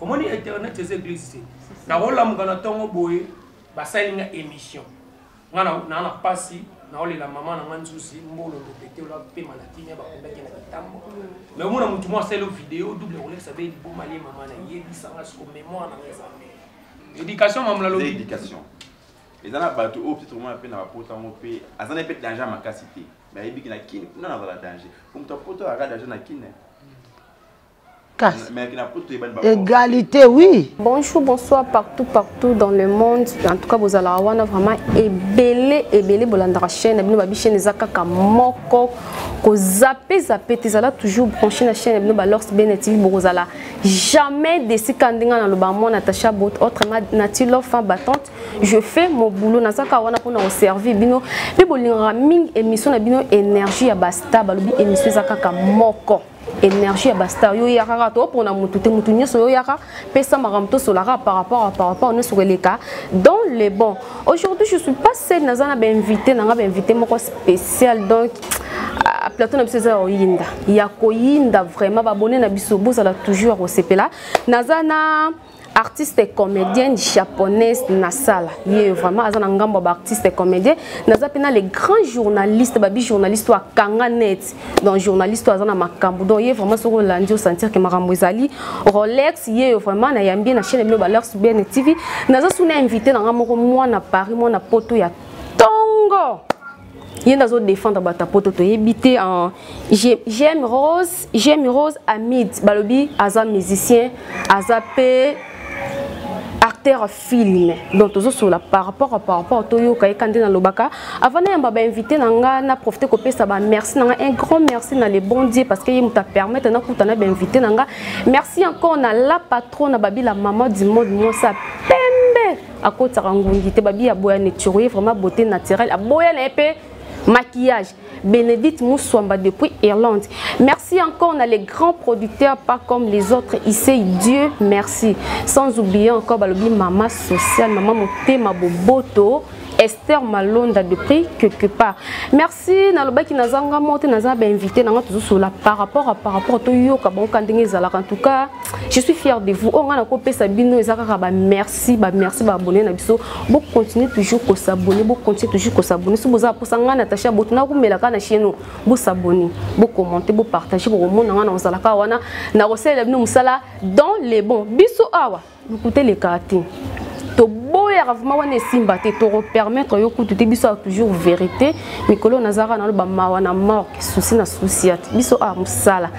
omoni internet eza eglise te nakolamuka na ntongo boye basali nga émission nga naa na mpasi naolela mama na nga nzuzi mbolo lopete ola pema na kimia bakundaki na mitambo me omona motu mwa asali video double kolekisa be liboma lie mama na yebisanga siko mémoire na nga eza éducation mamla lobi eza na bato oyo peut-être omona mpe na bapota yango mpe aza na mpe danger ya makasi te me ayebiki na kine kuna nazala danger po moto apota aka danger na kine kasi égalité oui bonjour bonsoir partout partout dans le monde en tout cas bozalaka wana vraiment ebele ebele bolandaka chaîne na bino babi chaîne eza kaka moko kozape zape te ezala toujours branché na chaîne na bino balors bene tv bokozala jamais desika ndenge naloba mwa natacha bot autre natilor fin battante je fais mon boulot naza kaka wana mpona koservir bino mpe bolingaka mingi émission na bino énergie ya basta balobi émission eza kaka moko énergie ya bastar yo yaka kaka topona motu te motu nyonso yo yaka pesa makambo tosolaka par rapport par rapport nyonso koleka dans le bon aujourd'hui je suis pas seule naza na bainvité nanga bainvité moko spécial donc ah, plateau na biso eza ya koyinda ya koyinda vraiment babone na biso bozala toujours ya kosepela naza na artiste comédienne japonaise nasala ye vraiment aza na ngambo ya baartiste comédien naza mpe na le grand journaliste babi journaliste oyo akanga net donc journaliste oyo aza na makambo donc ye vraiment soki olandi osentir ke makambo ezali rolex ye yo vraiment nayambi ye na chaine bino balers bn tv naza suna invité na ngai moko mwana paris mwana poto ya tongo ye nde azo défendre bato ya poto toyebi te en j'aime rose j'aime rose amid balobi aza musicien aza mpe acteur film donc tozosolola par rapport à par rapport toyoka yeka nde nalobaka avant nayamba bainvité na nga na profite kopesa bamerci na nga un grand merci na le bon dieu parce que ye moto apermettre nakuta na bainvité na nga merci encore na la patron na babila maman du monde mwasi akotisaka ngungi te babi aboya neturo ye vraiment beauté naturelle aboya na ye mpe maquillage bénédicte muswamba depuis irlande merci encore na les grands producteurs pas comme les autres isei dieu merci sans oublier encore balobi mama sociale mama motema boboto esther malonda depuis quelque part merci si nalobaki naza nga moko te naza bainvité na nga tozosola par rapport a par rapport toyoka bango ka ndenge ezalaka en tout cas je suis fier de vous oyo oh, nga nakopesa bino eza kaka bamerci bamerci baabone na biso bocontinue toujours kosabone bocontinue toujours kosabone soki boza mposa ngai natacha boto nakomelaka na chieno bosabone bocommente bopartage bokomona ngai na ozalaka wana nakosalela bino mosala dans le bon biso awa lokuta elekaka te toboyaka vraimen wana esimba te tokopermettre yo kutu te biso ya toujours vérité mikolo nazalaka naloba mawa na morke susi na susi ya biso a mosala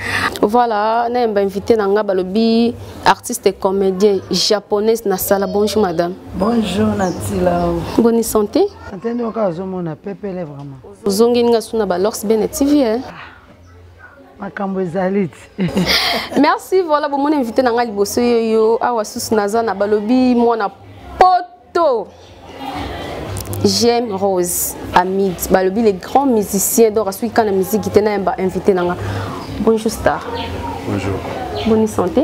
voilà nayemba invité na ngai balobi artiste comédien japonaise nasala bonjour madame bonjour natila boni santé santé nde okaka ozomona pepele vraiment ozongini ngai suna balors bene tv eh? ah. makambo ezali ti merci voilà bomoni invité na ngai liboso yo yo awa susu naza na balobi mwana poto j'aime rose amid balobi les grands musiciens donc asoki kaka na miziki te nayamba invité na nga bonjour star bonjour bonne santé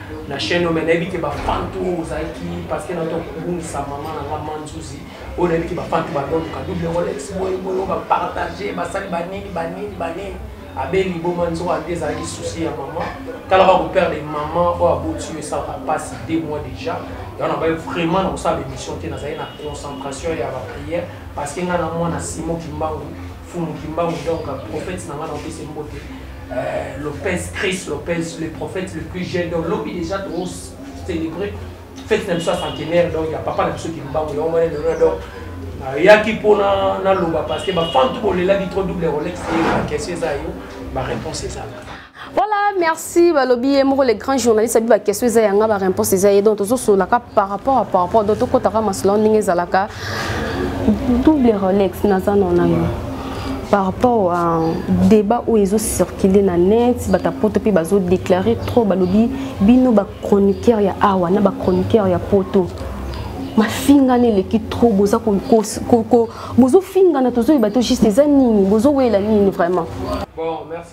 na chaîne oyo me nayebi te bafan to ozalaki parce que nato kobungisa mama na nga manzuzi oyo nayebi te bafan to badoluka double rolex boye boye bapartage basali banini banini banini abe liboma nzoka nde ezalaki souci ya mama talaka koperdre mama oyo aboti yo esalaka mpasi de mois déjà yango nabai vraiment na kosala baémission te nazali na concentration ya baprière parce que ngai na mwana simo kimbangu Fumu Kimbangu donc prophète na nga na opese mbote euh, Lopez Chris Lopez le prophète le plus jeune donc lobi déjà to célébrer fête na biso ya centenaire donc ya papa na biso Kimbangu yango wana lelo donc nayaki mpo naloba parce que bafan to bolelaki trop double rolex eyeba question eza yo baréponse ezalaka Voilà, merci balobi ye moko le grand journaliste abi ba question eza yanga ba réponse eza ye donc tozo solaka par rapport à par rapport donc tokota ka masolo ndenge ezalaka double Rolex naza non na yo. par rapport à débat oyo ezo circuler na net bata poto mpe bazo déclare trop balobi bino bachroniqueur ya awa na bachroniqueur ya poto mafingana eleki trop boza bozofingana tozoyeba to juste eza nini bozowela nini vraiment bon, merci.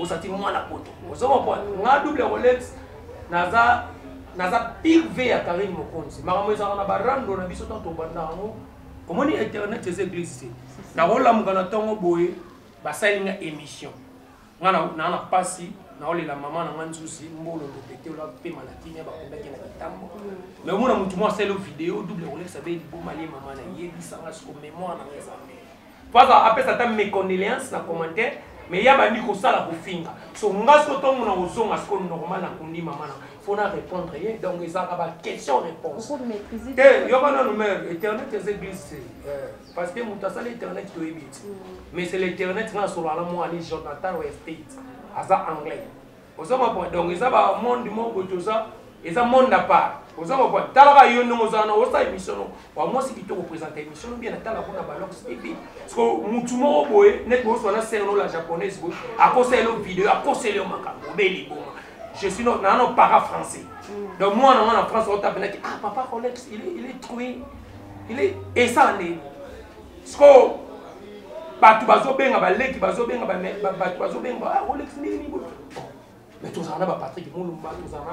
ozati mwana poto ozo comprendre nga double rolex naza naza pire v ya karine mokonzi makambo ezalaka na barando na biso ntango tobanda yango omoni internet eza eglise te nakolamuka na ntongo boye basali nga émission nga naa na mpasi naolela mama na nga nzuzi mbolo lopete ola mpe malakimia bakundaki na kitambo mais omona motu mwa asali video double rolex abeli bomali ye mama na yebisanga siko memoire na nga eza Faza apesa ata mes condoléances na commentaire mais ya bandi kosala kofinga so nga siko ntongo na kozonga siko normal na kundi mama na fo na répondre ye donc ezalaka ba question réponse te yoka nanu mare internet eza eglise euh, parce que moto asala internet toyebi ti mm. mais c'est l'internet nga nasolaka na mwana jonathan westate aza anglais oza comprendre donc eza ba monde moko boye toza eza monde à part oza comprendre talaka yo ndenge oza wana osala émission no wa mwasi kitoko présente émission bien atala kuna balox tv siko mutu moko boye neti boswa na serno la japonaise boye akosa elo video akosela yo makambo obeli boma je suis nana no para français mm. donc mwana mwana france otapenaki ah papa rolex il est, il est troué il est esa nde sikoyo bato bazobenga baleki bazobenga bato bazobenga ah, olekisi ndenge nini mais tozala na bapatrik molumba tozala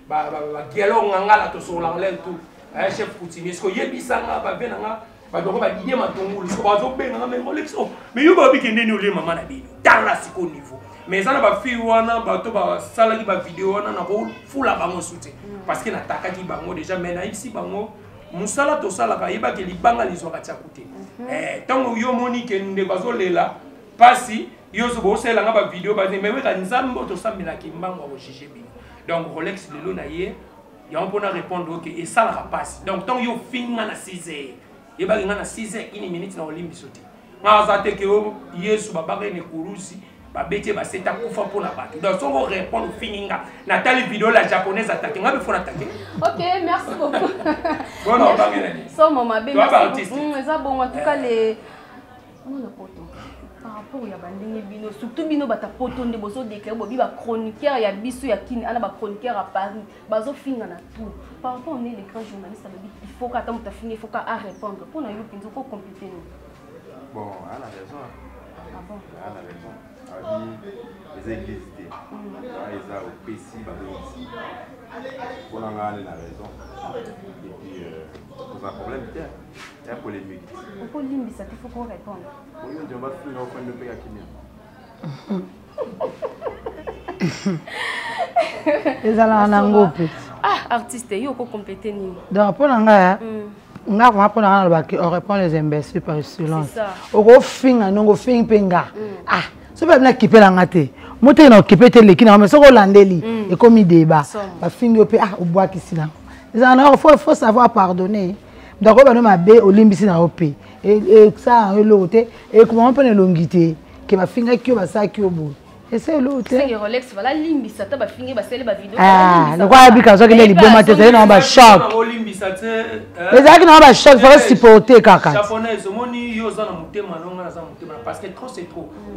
na bagialo ngangala tosololaka lel tout eh, chef coutumier siko yebisanga bave na nga badoko badidie matungulu siko bazobenga nga meme olekisi o oh, mais yo babiki ndeni olie mama na bino tala siko niveau mais eza na bafille wana bato basalaki bavideo wana nakofula bango sute parce que natakaki bango déjà mais nayebisi bango musala tosalaka yeba ke libanga lizwaka tyaku te mhm. eh, ntango yo omoni ke ndeko azolela mpasi yo soki osalela nga bavideo bani me weka nzambe oyo tosambela kimbango akojuge bino donc rolex lelo na ye yango mpona répondre oke esalaka mpasi donc ntango yo ofingi nga na 6 heure yebaki nga na 6 heure ini minute na olimbiso te nga aza te ke yesu babaka ene kurusi babeti ye basete akufa mpo na bato donc soki orépondre ofini nga natali video la japonaise atake nga bifona atake ok merci beaucoup bona obange nani somo mabe mm, eza bongo en tout cas le mona poto par rapport ya bandenge bino surtout bino bata poto nde bozodeklare bobi bachroniqueur ya biso ya kini ana bachroniqueur ya paris bazofinga na tout par rapport ne le grand journaliste alobi ifoka ata moto afinga ifoka arépondre mpo na yo mpenza okocomplete nini Bon, elle a raison. Ah bon? Elle a raison. Abi, eza église te. Wana eza opesi babongisi. Mpo na ngai na raison. Et puis, euh, oza problème te. Ya polémique. Okolimbisa te, faut ko répondre. Oyo ndio bafinga ofandi mpe ya kimia. ezalaka na ngo mpe ah artiste yo okokomplete nini donc mpo na ngai eh, mm. nga koma mpo na nga nalobaki on répond les imbéciles par silence okofinga ndongo ofingi mpe nga mm. ah soki babi nakipela nga te moteki na okipe te eleki na nga mais soki olandeli mm. ekomi débat bafingi yo mpe ah obwakisi nango ezala na fo savoir pardonner ndako bano mabe olimbisi na yo mpe esaa yango eloko te ekomama mpo na elongi te ke bafingaki yo basalaki yo boye ese eloko telokola abika azwaki nde liboma te ezali nango bachoc ezalaki nango bachoc faka supporte kaka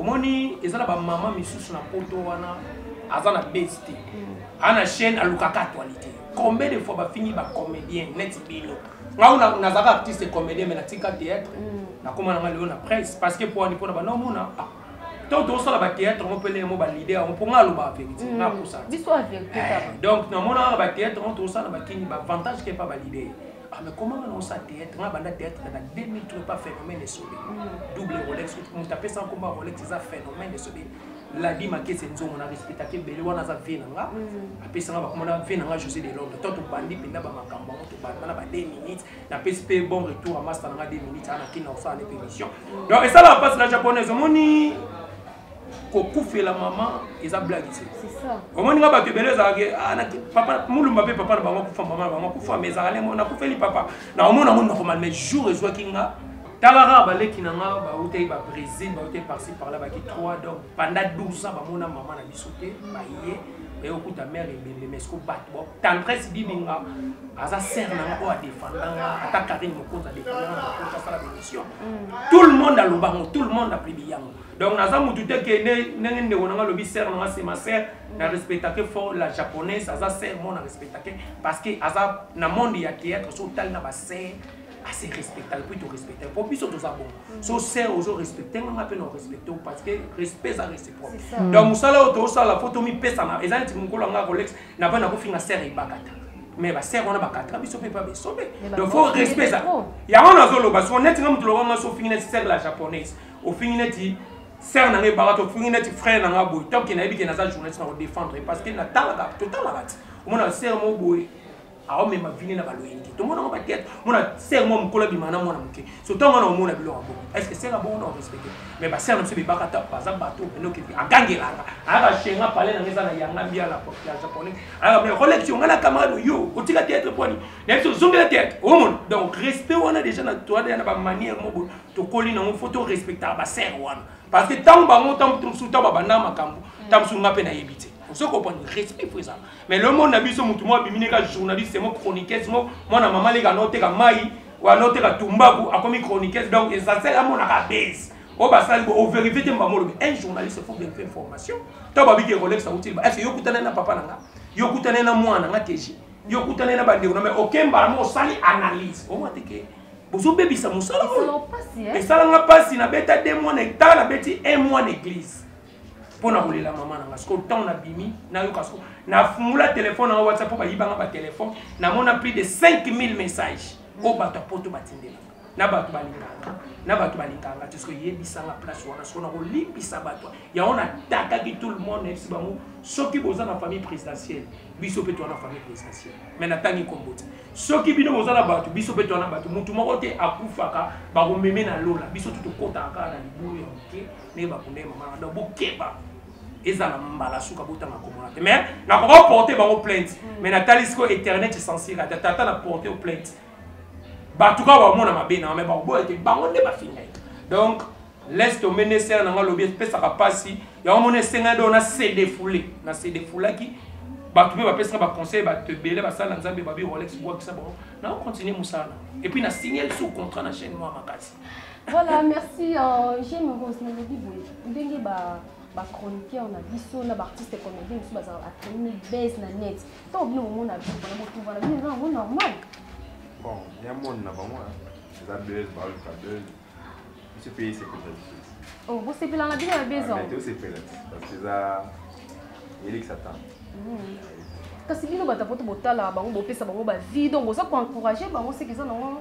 omoni eza na bamama misusu na poto wana aza na base te ana chaîne alukaka actualité combien de fois bafingi ba comédien neti bino ngai nazalaka artiste comédien mais natika théâtre mm. nakoma nanga lelo na presse parce que poani mpona bana omona ah, to tosala bathéâtre yango mpele yango balide yango mpo ngai aloba verité mm. nakosa eh, donc namonaka bathéâtre yango tosala bakini baavantage kepa balide Ah, mais comment on a théâtre On a banda théâtre dans 2003 pas phénomène de solide. Mm. Double Rolex, on t'a fait sans combat Rolex, c'est un phénomène de solide. ladi makese nzongo na respectaka ebele wana aza vie na nga mm. apesanga bakoma na vie na nga josé de londres to tobandi mpenza bamakambo yango tobanda na ba 2 minutes napesi mpe bon retour ya masta na nga 2 minutes ana kina kosala nde pémission mm. donc esalaka mpasi na japonaise omoni kokufela mama eza blage te omoni nga bato ebele ezalaki ah, papa mulumba mpe papa na bango akufa mama na bango akufa mais ezalaka nde nakufeli papa naomona yango normal mais jour ezwaki nga tala kaka baleki na nga bautaki ba brésil bautaki parci parla baki 3 donc panda 12 ans bamona mama na biso te baye baye okuta mare ebembe mais siko bato bo tendresse bibinga aza sere na nga oyo adefanda nga ata karine mokonzi adefanda nga mokonzi asala bémission mm. tout le monde aloba yango tout le monde aplibi yango donc naza motu te ke ndenge ndeko na nga alobi sere na nga se ma sere na respectake fort la japonaise aza sere mo na respectake parce que aza na monde ya théâtre so otali na basere ase respecta epuis to respecta po biso toza bongo mm. so ser ozo respecte nga nga mpe na respecte o parce que respect eza réciproque donc mosala oyo tosala po tomipesana eza neti mokolo yanga colex na mpe nakofinga ser ebakata mais baser wana bakataka biso mpe mpa besobe donc fo respect eza yango nazoloba so neti nga moto lokola nga so ofingi neti ser la japonaise ofingi neti ser na nga ebaka to ofingi neti frère na nga boye toke nayebi ke naza journaliste na kodefendre parce que natalaka totalaka ti omona ser mo boye aomema vini na baloyini te tomona ngo batete mona ser mwa mokolo abima na mwana moke so ntango wana omona biloko bongo estce ser abongo na orespecte mais baser na biso bebaka ta baza bato enoki agangelaka ayaka shenga pale na nga eza na yanga mbia la ya japonais ayaka bino kolekisi onga na camarade oyo otika teatre pwani na biso ozongela teatre omona donc respect wana déjà na toada na bamanière moko tokoli nango fo to respectaka baser wana parce que ntango bango ntango mosusu ntango babanda makambo ntango mosusu nga mpe nayebi te ozo comprendre respect fo ezala mais le monde na biso mutu mo abimi ne ka journaliste mo chroniqueuse mo mwana mama leka no teka mai wa no teka tumbaku akomi chroniqueuse donc essentiel amona ka base o basali bo overifie te mbamo lobi un journaliste faut vérifier information to babi ke rolex autil ba est ce yokutana na papa na nga yokutana na mwana nga keji yokutana na bandeko na mais aucun mbala mo sali analyse o mwa te ke bozobebisa mosala oyo esalanga mpasi nabeta de mwana etala nabeti un mois na eglise mpo na kolela mama na nga sikoyo ntango nabimi nayoka siko nafungola telefone yango whatsapp mpo bayibanga batelefone namona plus de 5000 message oyo bato ya poto batindelaka na bato balinganga na bato balinganga te soki yebisanga place wana soko nakolimbisa bato yango natakaki tout le monde nayebisi bango soki boza na famille présidentielle biso mpe towana famille présidentielle mai natangi nkombo te soki bino boza na bato biso mpe towana bato motu moko te akufaka bakomeme na lola biso tutokotaka kaka na libulu ya moke ndenge bakunda ye mama donc bokeba ezala mbala suka botanga komona te mais nakoka oporte bango plainte mm. mais natali sikoyo éternel cesensire ata tata na porte o plainte bato kaka bamona mabe na mais bakoboya te bango nde bafinga ye donc laisse tombe nde sere na nga lobi epesaka mpasi yango mona esengaki do na sedefoule na sedefoulaki bato mpe bapesaka baconseil bato ebele basala na nzambe babi rolex bwakisa bango nao continue mosala epuis na signal sous contrat na chaîne mwa makasi Voilà, merci. Euh, J'aime Rose Nalobi Boye. Ndenge ba ba chroniqueur na biso na ba artiste comédien biso bazala ba chronique base na net. To bino omona ba na botu bana bino na ngo normal. Bon, ya monde na bango. C'est la buzz, ba le buzz. Monsieur pays c'est pour ça. Oh, vous c'est pela na bino na buzz. Ah, mais c'est pela parce que ça Elix attend. Mm. Kasi bino batapoto botala bango bopesa bango ba vie donc boza ko encourager bango c'est qu'ils en ont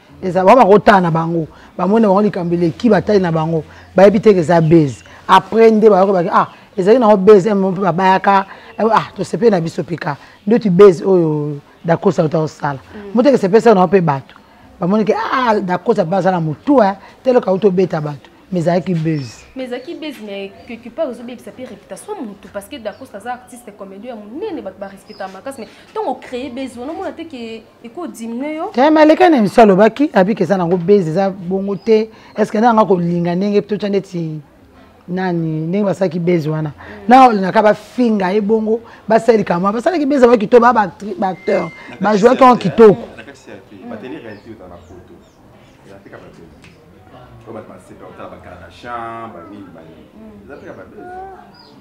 eza ba bakotala na bango bamoni na bango likambo eleki batali na bango bayebi te ke eza base après nde bayoki baki ah ezali nango base eh, mpe babayaka eh, ah tosepeli na biso pika ndeti base oyo dakosa auta kosala mm. moteke sepesa nango mpe bato bamoni ke ah dakosa mpe aza na motu eh, teloka auta obeta bato mais ezalaki buzz mais ezalaki buzz mais quelque part ozobebisa mpe réputation ya motu parce que dacosta aza artiste comédien ya monene bato barespectaka makasi mais ntango ocree buzz wana omona te ke tayama aleka na miso alobaki abika eza nango base eza bongo te estce nde nanga kolinga ndenge totya ndeti nani ndenge basalaki base wana na olingaka bafinga ye bongo basali likambo basalaki base yango kitoko baa baacteur bajouaki yango kitoko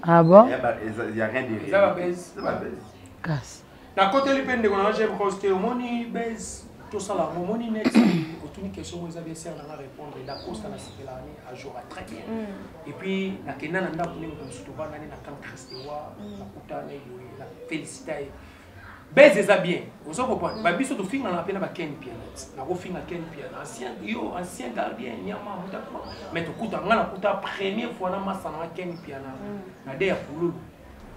ah bon kasi nakoteli mpe ndeko nanga jm rose te omoni base tosala yango omoni next otuni question moko eza bien sere nanga répondre dacosta na sepelaka ne ajora très bien mm. et puis nakenda na ndako nde moto mosusu tobandani na camp christewa mm. nakuta na eboye na félicita ye base eza bien ozo comprendre mm. babiso tofingana mpe na ba ken pianet nakofinga ken pian ancien yo ancien gardien nyama mutakuma mais tokuta ngai nakuta première fois na masana na ken piana na de ya pululu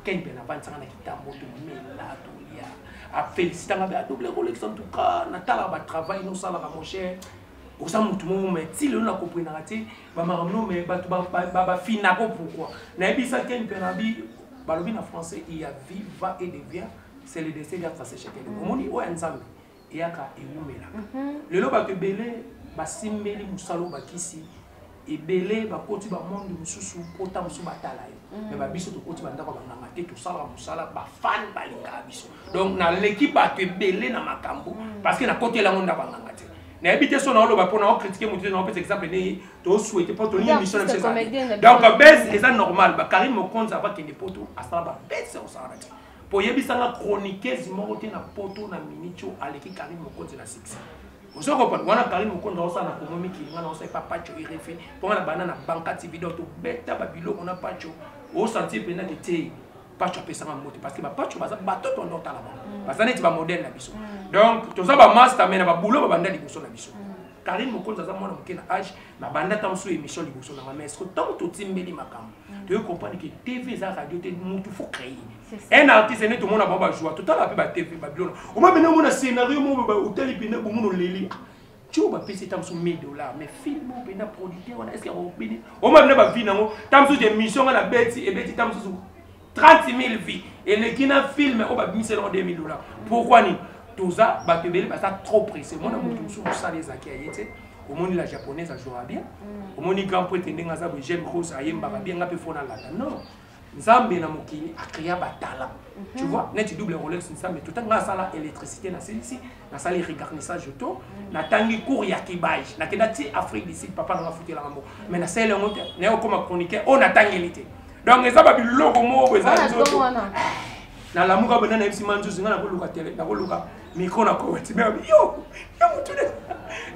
ken mpe navandisanga na kitambo tomela tolia afélicitanga mpe adouble kolekisa ntuka natalaka batravail nosalaka mosher oza motu moko mai ti lelo na koprenaka te bamakambo no mai bato bafinako pourkoi nayebisa ken mpe nabi balobi na français iya viva et devient c'est le destin ya tracechekele omoni oyo ya nzambe eyaka ewumelaka lelo bato ebele basimbeli mosala obakisi ebele bakoti bamonde mosusu mpota mosusu batala yo mm. me babiso tokoti bandako ya banganga te tosalaka mosala bafani balingaka biso donc naleki bato ebele na makambo mm. parce que nakotela yango ndako ya nganga te nayebi te so naoloba mpo nao kritike motu te naopesa exemple nini tosuete mpo tolingi émission na biso donc base eza normal bakarine mokonzi avakende mpo to asala babese osalaka te po yebisa nga chroniqueuse moko te na poto na minute oyo aleki karine mokonzi na succès ozo comprendre wana karine mokonzi aosala na komo mikili nga naosala epa pacho erefe mpo nga na banda na banka tv donc tobeta babiloko na pacho osanti mpenza ke te pacho apesanga mbote parce que bapacho baza bato tondo otala bango mm. baza neti bamodele na biso mm. donc toza bamasta mai na babulo babanda liboso na biso mm. Karine Mokonzi aza mwana moke na age na banda ntango mosusu émission liboso na ngai mais ce que ntango totimbeli makambo mm. toyei comprendre que tv eza radio te mutu faut créer un artiste ene tomona bango bajoua totala mpe batv babilona oma bene omona scénario mo otali mpena bomono leli tio bapesi ntango mosusu 1000 dollar mais film oyo mpena producteur wana estce akobini oma bene bavi nango ntango mosusu émission nga na beti ebeti ntango mosusu 30000 vie eleki na film oyo babimisela ngo 2000 dollars pourquoi nini toza bato ebele baza trop pressé mwana moto mosusu mosala ezalaki ya ye te omoni la japonaise ajouera bien mm. omoni grand poete ndenge aza boye jeune rose ayembaka bien nga mpe fona lata non nzambe na mokili akrea batala tu mhm. vois neti double rolex nzambe totanga asala électricité na silisi nasali regarnissage auto natangi cours ya kibage nakenda ti afrique du sud papa nanga afutelaka mbo mais nasali yango te naye okoma chroniqueur oyo natangeli te donc eza babiloko moko eza nzoto nalamuka banda nayebisi manzuzi ngai nakoluka tele nakoluka mikro na koweti me yo yo motu de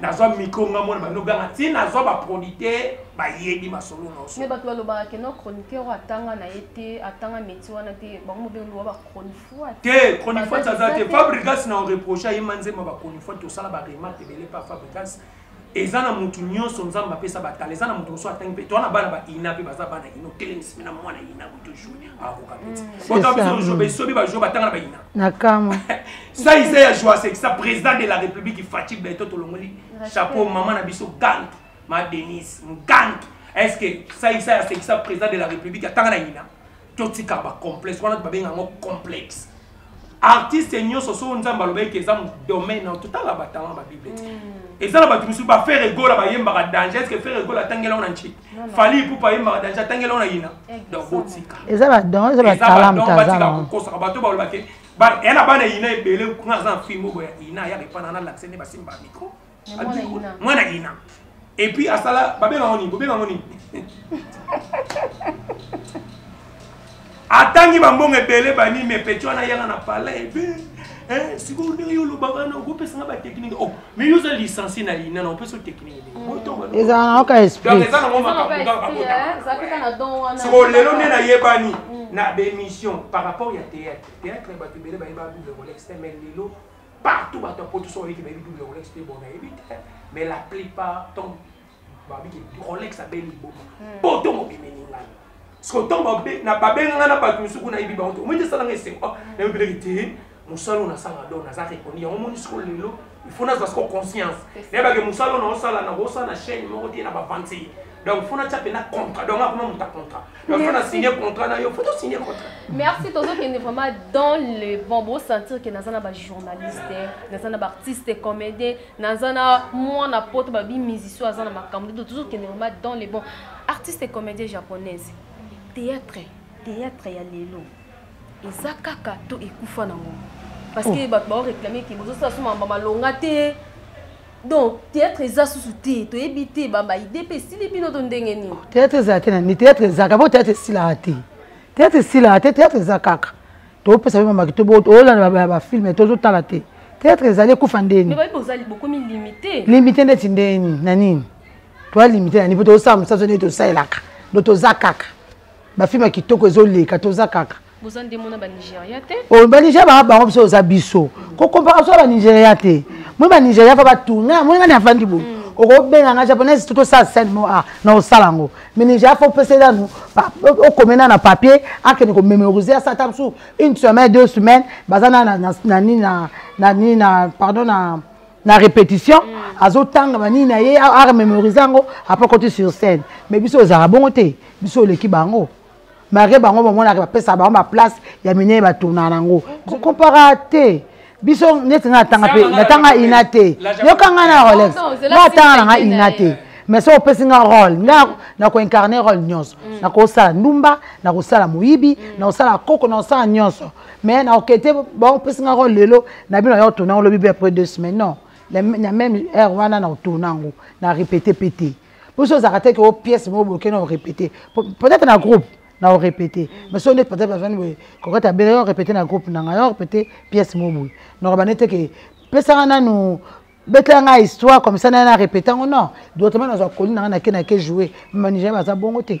nazwa mikro ngai mona bando ganga ti nazwa baproduit te bayebi masolo nyonso me bato balobaka keno chroniqueur oyo atanga na ye te atanga métier wana te bango mobengoluwa bachronique te chronifuati aza te fabrigas na oreproche aye manzemba bachronifuati tosala baremarke ebele pa fabrigas eza na motu nyonso nzambe apesa batala eza na motu mosusu atangi mpe toa na bana baina mpe baza bana ino telemisi na mwana ina boto joue akoka peti botobiso besobi bajoue batanga na baina nakama sa isa ya joa sekisa président de la république fati beto tolongoli chapeau mama na biso gangi ma denise mugangi est ce que sa isa ya sekisa président de la république atanga na ina totika ba complexe wana babenga yango complexe artiste nyonso soko nzambe alobaki ke eza domaine na totala batalent ba bible te mm. eza na bato mosusu bafere egola bayembaka danger eske fere egola atangela ona nci fali ipupa ayembaka danger atangela ona yina donc botika eza badon eza batalentbatika kokosaka bato balobake yana bana yina ebele kuna aza na film oyo boya yina ayaka epana na lakise nde basimba micro mwana ina et puis asala babenga ngo nini bobenga ngo nini atangi bambongo ebele banimi epecho wana yanga na palais ebe eh, sikoyo ndenge yo olobaka wana okopesanga batechnike o oh, mais yo oza licencie na ina na opesa technike ezala na oka esprieza nango makamboakotasikoyo lelo nde nayebani mm. na bémission par rapport ya théâtre théâtre bato ebele bayeba double rolex mais lelo partout bato ya poto so bayebi te bayebi double rolex mpe bona yebi te mais la plupart ntango babi ke rolex abeli liboma hmm. poto mobimeli ngai siko ntango babenga ngai na bato mosusu kuna yebi bango te omoi te esalanga esengo ah, nayebeleki te mosala oyo nasala do naza rekondi yango omoni siko lelo il faut nazwa siko conscience nayebake mosala oyo naosala nakosala na chaîne moko te na bavantile donc fo natya mpena contrat donc akoma moto ya contrat donc fo na signe contrat na yo fo tosigne contrat merci tozokende vraiment dans le bon bosentir ke naza na bajournaliste naza na baartiste comédien naza na mwana poto babi musicien aza na makambo nde tozokende vraiment dans le bon artiste comédien japonaise théâtre théâtre ya lelo eza kaka to ekufa nango parce que oh. bato baoreklame ke bozosala so mamba malonga te donc théâtre eza susu te toyebi te bamba ide mpe esili bino to ndenge nini oh, théâtre ezala te nani théâtre ezaka po théâtre esilaka te théâtre esilaka te théâtre eza kaka topesa pe mamaki toolanda bafilme tozotala te théâtre ezali ekufa ndeni limite ndeti ndeni na nini toa limite na nini po tozosala mosaso ndeni tosalelaka ndo toza kaka bafilme ya kitoko ezoleka toza kaka boza nde mona banigeria te oh, banigeria banga bango biso oza biso kokompaka biso banigeria te moi banigeria fa batuna moi nga ni afandi boye mm. okobenga nga japonaise to tosala scène mo a ah, na osala yango mais nigeria fa opesa nanu okomena na papier akende komemorise asala ta mosusu une semaine deux semaines baza na nini na nini na pardon na na répétition mm. azotanga banini na ye arememorise yango apres koti sur scène mais biso ozala bongo te biso oleki bango malgré bango bamonaka bapesaka bango baplace ya minene batournaka nango kokompaka te biso neti ngai natanga mpe natanga ina te yoka ngai na rolex ngai atanga na ngai ina te mais soki opesi ngai role ngai nakoincarne role nyonso mm. nakosala ndumba nakosala moyibi mm. nakosala koko nakosala nyonso mais nakokete baopesi ngai role lelo na bino yao tourna olobi be après deux semaines non na même heure wana nakotourna yango na répéte mpe te biso ozalaka te ke o pièce moko boke na orépété peut-être na groupe na orépété mais soki ndeti peut-être azwani boye kokati abela yo orépété na groupe na ngai yo orépété pièce moko boye nokaba nde te ke pesaka nanu betela ngai histoire comme ça naye na répété yango non dotement nazwa koli na ngai nake nake joue manija baza bongo te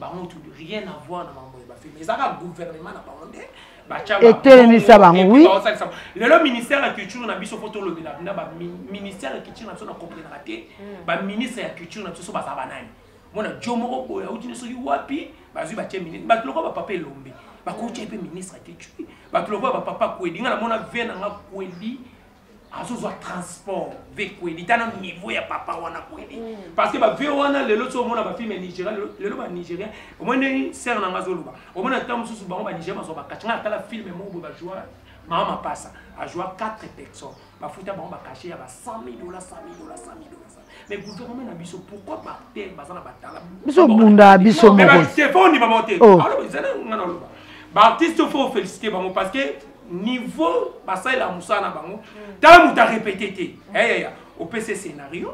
bango tu rien à voir na mambo ya bafilme ezaka gouvernement na bango nde etelemisa bango wi lelo ministère ya culture na biso mpo tolobela na baministère ya culture na biso na comprenaka te hmm. baministre ya culture na biso so baza banani mona jo moko boye auti ne soki wapi bazwi batye ministre bato lokola bapapa elombe bakotya mpe ministre ya culture bato lokola bapapa kwedi ngai namona ve na nga kwedi azozwa transport vekweli tana niveau ya papa wana kweli mm. parce que bavie wana lelo so omona bafilme ya nigeria lelo banigeria omoi ndenge sere nanga azoloba omona ntango mosusu bango banigeria bazwa bakache ngai natala filme moko boye bajua mama mapasa ajua 4 personnes bafuta bango bakashe ya ba 100 000 dola 100 000 dola 100 000 dola mais gouvernement na biso pourquoi par terre baza na batala biso bunda biso moko c'est pas ni maman te oh. alors ils allaient ngana loba ba artiste faut féliciter bango parce que niveau basali la musala na bango mm. tant muta répéter te eh ya ya au PC scénario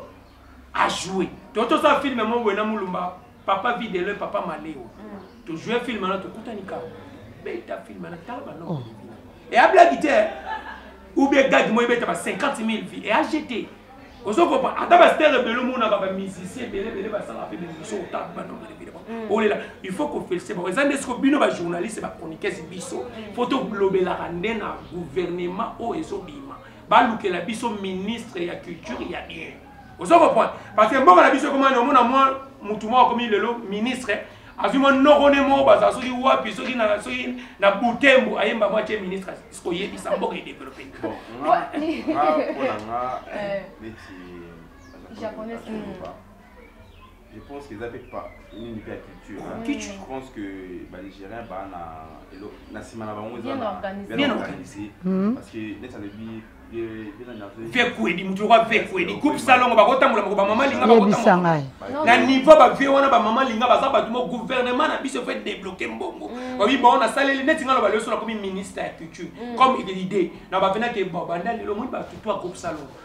à jouer toto ça film mon wena mulumba papa vide le papa maleo mm. to jouer film na to kutani ka beta film na tala ba non et a blague te ou bien gag moi beta ba 50000 vues et a jeté ozo kopa ata ba star belo mona ba musicien bele bele ba sala pe biso ta ba non bele bele mm. olela il faut ko féliciter ba ezande ce ko bino ba journaliste ba chroniqueurs biso mm. faut to globela rande na gouvernement o ezo bima ba lukela biso ministre ya culture ya bien ozo comprendre parce que mboka na biso ekomani omona mwa mutu moko akomi lelo ministre azwi mwa noko ne moko bazala soki wapi soki na soki na butembo ayemba mwa tie ministre koyebisa mboka edevelope japonais je pense que eza mpe nini mpe ya culture je pense que banigérien baa na na nsima na bango bien organisé hmm. parce que neti alobi vie kwedi moto yoka vie kwedi groupe salongo bakotambola moko bamama linga bakotambola na niveau bavie wana bamama linga baza bato mo gouvernement na biso fe débloqué mbongo mm. babi bao nasaleli neti nga loba leso nakomi ministre ya culture mm. comme idée na bavenake babanda lelo moni bato to ya groupe salongo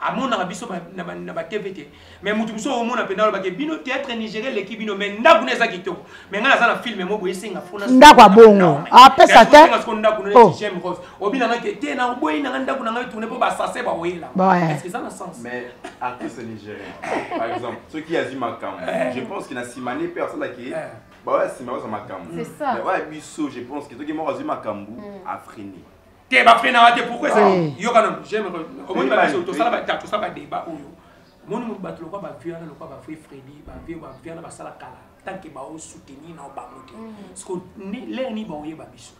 amonaka biso na batv te mais moto mosusu omona mpenza alobaki bino théâtre nigérien eleki bino mais ndako na eza kitoko mais ngai naza na filme moko esenga fona ndako ya bongo apesa te siko ndako na oh. jm rose obina ngai te te na oboyi na ngai ndako na ngai tourne mpo basase baoyela est-ce que eza na sens mais artiste nigérien par exemple soki azi makambo eh. je pense que na simane mpe asalaki eh. baoya nsima baza makambo mais oya biso je pense que soki moko azwi makambo mm. afrini te ba frein na te pourquoi ça yoka non j'aime omoni ba biso to sala ba ta to sala ba débat oyo omoni mu bato lokwa ba vieux na lokwa ba vieux Freddy ba vieux ba vieux na ba sala kala tant que ba o soutenir na ba moto parce que ni l'air ni ba oye ba biso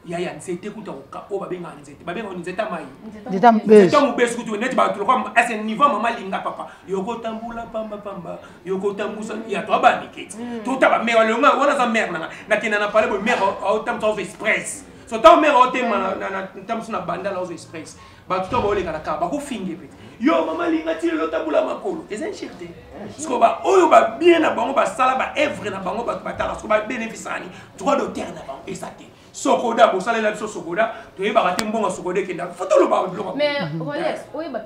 ya ya nzete kuta oka oyo babengaka nzete babengaka nzete mai nzete mobesu kutu neti bato lokwa ese niveau mama linga papa yokotambula pambapamba yokotambusa ya to abandiketi totaba mare wana aza mare nanga nakenda na pale boye mare aotambusa ozo expresse sota omeka otema ntambusu na banda laozo express bato to baoleka na kaka bakofinge mpe yo mama linga ti lelo tabula makolo eza nshir te siko baoyo babie na bango basala baevre na bango bato batala siko babenefisani droit d'auteur na bango eza te sokoda bosalela biso sokoda toyebaka te mbongo sokoda ekenda fo toloba biloko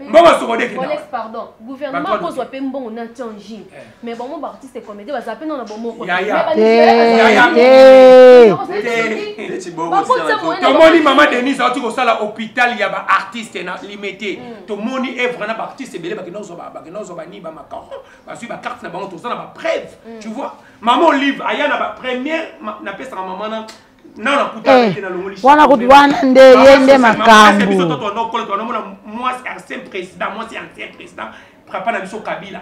mbongo sokoda ekenda pardon gouvernement akozwa mpe mbongo na tianjin eh. mais bango ba artiste comédien baza mpe nona bomoko tomoni mama denise auti kosala hôpital ya baartiste na limete mm. tomoni evre na baartiste ebele bakenda kozwa bani bamacaro bazwi bacarte na bango toza na bapreuve mm. tu vois mama olive aya na bapremière napesaka mama na Eh, wana kutu wana nde ye nde makambo papa na biso kabila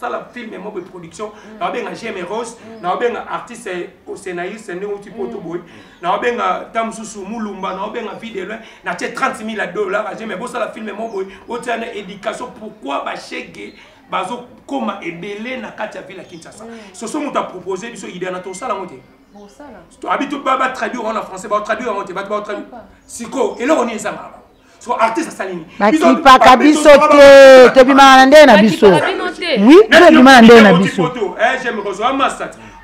sala film moko production mm. na obenga jeme rose mm. na obenga artiste osenaïs nde outi poto mm. boye na obenga ta mosusu mulumba na obenga vie de loin na tie 30 000 ya dollar aje mais bosala film moko boye otia na éducation pourquoi bashege bazokoma ebele na kati ya ville ya kinshasa soso moto apropose biso idea na tosala yango te abi to batraduire wana français batraduire yango te bato batraduire sikoyo eloko nini ezangaka bakipaka biso te tobimaka na ndenge na biso wi tobima na ndenge na biso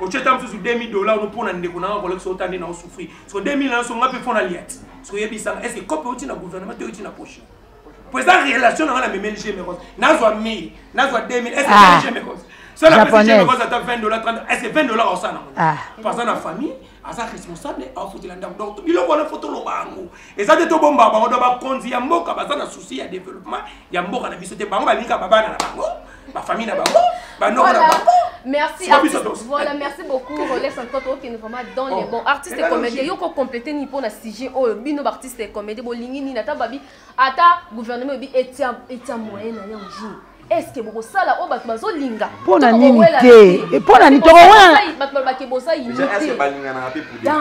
otyeta mosusu 2000 dollar ono mpo na ndeko na nga kolekisa ota nde na osouffrir so 2000 na yonso nga mpe mpo na lia ti so oyebisanga est ce que cope euti na gouvernement te euti na poche mpo eza relation na nga na memeli gemeros nazwa 1000 nazwa 2000 est ce que ah. gemeros so napesi gemeros ata 20 dollar 30 est ce que 20 dollar osala nango ah. mpo aza na famille aza responsable aofutela ndako donc biloko wana fo toloba yango eza te tobomba bango do bakonzi ya mboka baza na souci ya développement ya mboka na biso te bango balingaka babana na bango bafamille na bango banoko na bango Merci, artiste. Voilà, merci beaucoup. Relais 50 euros qui est vraiment dans oh. les bons. Artiste et comédien, yo ko compléter ni pour na sujet oh bino artiste et comédien bolingi ni na tababi ata gouvernement bi etia etia moyen na yango jour. eske bokosala oyo bato bazolinga mpo na nini te eh, mpo na nini tokowenabato balobake boza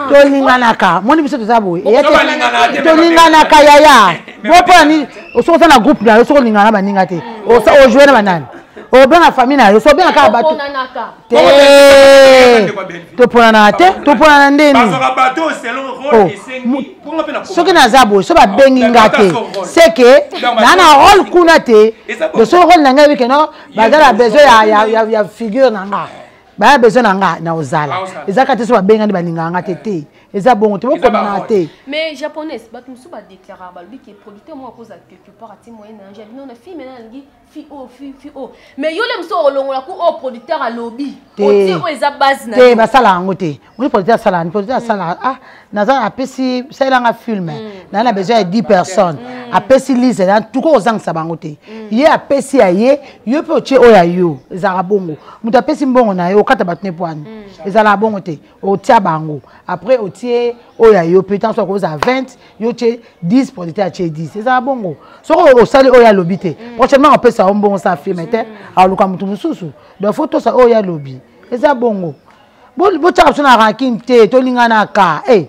tolinganaka moni biso toza boye tolinganaka yaya bo mpo na nini soki oza na groupe na yo soki olingana na baninga te ojoue na banani obenga famille na yo so obenga kaka bato toponana te toponana ndeni oh, soki naza boye so babengi nga te seke naa na role kuna te doso role na ngai wike no baza na besoin ya figure na nga baya besoin na nga na ozala eza kaka te so babenga nde balingaka nga te te eza bongo te bokomana te mais japonaise bato mosusu badeclaraka balobi ke producteur moko akozala quelque part ati moyen na yange abino na fille mena alingi fi o oh, fi fi o oh. mais yo le mosusu okolongola ku oyo oh, producteur alobi otie oyo eza base na te basala yango te oyi producteur asala yani producteur asala mm. ah naza apesi salelanga film mm. naza na besoin ya 10 personnes mm. apesi lise na tuka ozangisa bango te ye apesi ya ye yo mpe otie oyo ya yo ezalaka bongo moto apesi mbongo na ye okata bato ne pwani ezalaka bongo te otia bango après otie oyo ya yo mpe ntango soki okozala 20 yo otie 10 producteur atie 10 ezala bongo soki osali oyo alobi te mm. prochainement opesa yo mbongo sa filme te mm. aluka moto mosusu donc fo tosa oyo alobi eza bongo botyaka biso na ranking te tolinganaka e eh,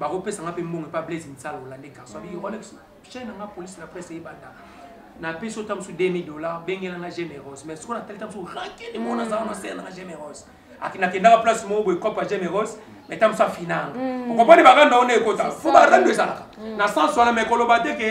bakopesa nga mpe mbongo epa blaise misala olande garçon abi rolex chaine na nga police na presse eyebanda napesi yo ta mosusu 2000 dollar bengela nga generose mais sikoyo natali ta mosusu rankini moko nazala na sele na nga generose nakendaka place moko boye cope ya generose mais ta mosusu afinanga okomprani baganda ona ekota fo barando ezalaka na sens wana mais koloba te ke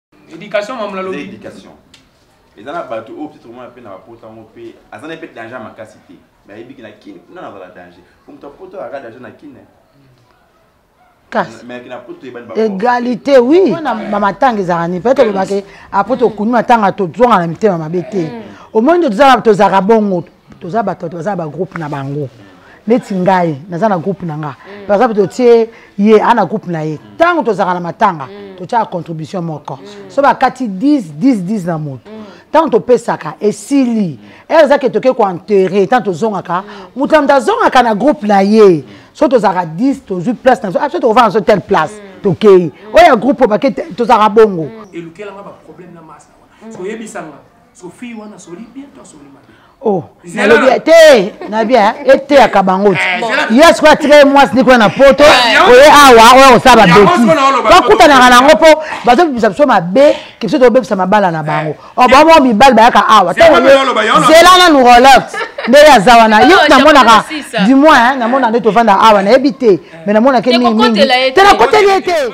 éducation mamu na lobi éducation eza na bato oyo peut-être omona mpe na bapota yango mpe aza na mpe danger ya makasi te mais ayebiki na kine kuna nazala danger po moto apota azalaka danger na kine égalité oui bamatanga ezalaka nini peut-être olobake apo tokuni matanga tozonga na mitema mabe te omoni nde tozalaka bongo toza bato bato baza na bagroupe na bango neti ngai naza na groupe na nga mm. par exemple totie ye a na groupe na ye ntango tozalaka na matanga mm. totyaka contribution moko mm. so bakati 10 10 10 na moto ntango topesaka esili ere eza ke toke koenterre ntango tozongaka moto na moto azongaka na groupe na ye so tozalaka 10 tozwi place na so abiso tokofana so telle place tokei oyo ya groupe obake tozalaka bongo elukelanga baproblème na masa wana soyebisanga Sophie wana asoli bien to asoli mabe oh nalobi te nabi eteyaka bango ti eh, yo sikoyo atika ye mwasi nde kuna na poto eh, oye awa ah, oya kosala babeti bakutanaka nango mpo bazobimisa biso mabe kibiso tobebisa mabala na bango eh. oh, bamo mibali bayaka awa zela nanu rolex nde ye aza wana yo namonaka du moins namonaka nde tovanda awa nayebi te mais namonaka mingi mingi te nakoteli ye te